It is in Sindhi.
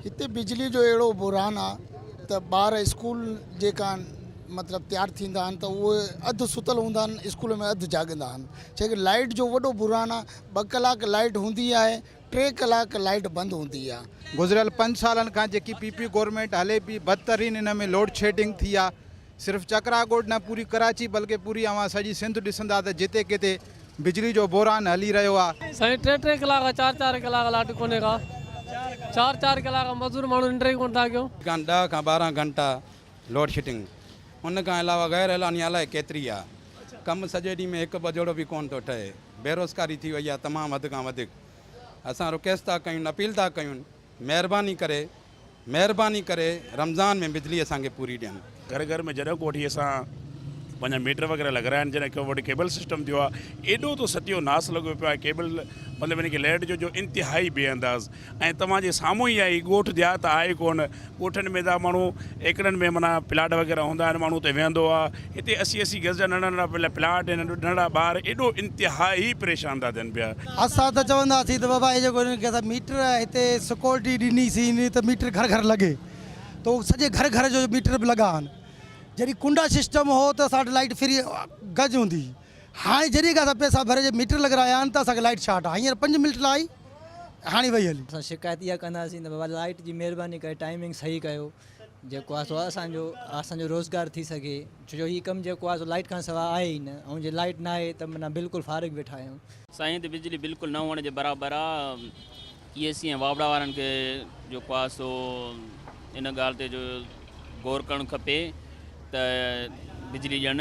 هتي بجلي جو اهڙو بحران آ ته ٻار اسڪول جي ڪان مطلب تيار ٿيندا آهن ته اهي اڌ ستل هوندا آهن اسڪول ۾ اڌ جاڳندا آهن ڇا ڪري لائٽ جو وڏو بحران آ ٻه ڪلاڪ لائٽ هوندي آهي ٽي ڪلاڪ لائٽ بند هوندي آ. گذريل پنج سالن کان جيڪي پي پي گورنمينٽ هلي پي بدترين ان ۾ لوڊشيڊنگ ٿي آ. صرف چڪرا ڳوٺ نه پوري ڪراچي بلڪه پوري اوهان سڄي سنڌ ڏسندا ته جتي ڪٿي بجلي جو بحران هلي رهيو آهي. سائين ٽي ٽي ڪلاڪ چار چار ڪلاڪ لائٽ ڪونهي ڪا چار چار ڪلاڪ مزور ماڻهو ننڊ ئي ڪونه ٿا ڪيون. کان ڏهه کان ٻارهن گهنٽا لوڊشيڊنگ ان کان علاوه غير اعلاني الائي ڪيتري آ ڪم سڄي ڏينهن ۾ هڪ ٻجهڙو به ڪونه ٿو ٺهي بيروزگاري ٿي وئي آ تمام حد کان وڌيڪ اسان رڪيست ٿا ڪيون اپيل ٿا ڪيون مهرباني ڪري مهرباني ڪري رمضان ۾ بجلي اسان کي پوري ڏين. گهر گهر ۾ جڏهن ڪوٺي اسان پنهنجا ميٽر وغيره لڳرائن جڏهن ڪيو وٽ ڪيبل سسٽم ٿيو آهي ايڏو ته ستيو ناس لڳو پيو آهي ڪيبل مطلب ان کي ليڊ جو جو انتهائي بي انداز ۽ توهان جي سامهون ئي آهي ڳوٺ ديهات آهي ڪون ڳوٺن ۾ دا ماڻهو ايڪڙن ۾ معنيٰ پلاٽ وغيره هوندا آهن ماڻهو اتي ويهندو آهي هتي اسي اسي گز جا ننڍا ننڍا پهريان پلاٽ ۽ ننڍڙا ٻار ايڏو انتهائي پريشان ٿا ٿين پيا. اسان ته چوندا سين ته بابا هي جيڪو هنن کي اسان ميٽر هتي سڪيورٽي ڏني سين ته ميٽر گهر گهر لڳي ته اهو سڄي گهر گهر جو ميٽر به لڳا آهن جڏهن ڪنڊا سسٽم هو ته اسان وٽ لائيٽ فري گز هوندي هئي هاڻي جڏهن کان اسان پئسا ڀري ميٽر لڳرايا آهن ته اسان کي لائيٽ شارٽ آهي هينئر پنج منٽ لاء آئي ۽ هاڻي وئي هلي. اسان شڪايت اها ڪنداسين ته بابا لائيٽ جي مهرباني ڪري ٽائمنگ صحيح ڪيو. جيڪو آهي سو اسان جو اسان جو روزگار ٿي سگهي ڇو جو هي ڪم جيڪو آهي سو لائٽ کان سواء آهي ئي نه ۽ جي لائٽ نه آهي ته معنيٰ بلڪل فارغ ويٺا آهيون. سائين هتي بجلي بلڪل نه هئڻ جي برابر آ اي اي سي ۽ واوڙا وارن کي جيڪو آهي سو ان ڳالهه تي جو غور ڪرڻ کپي ته بجلي ڏين.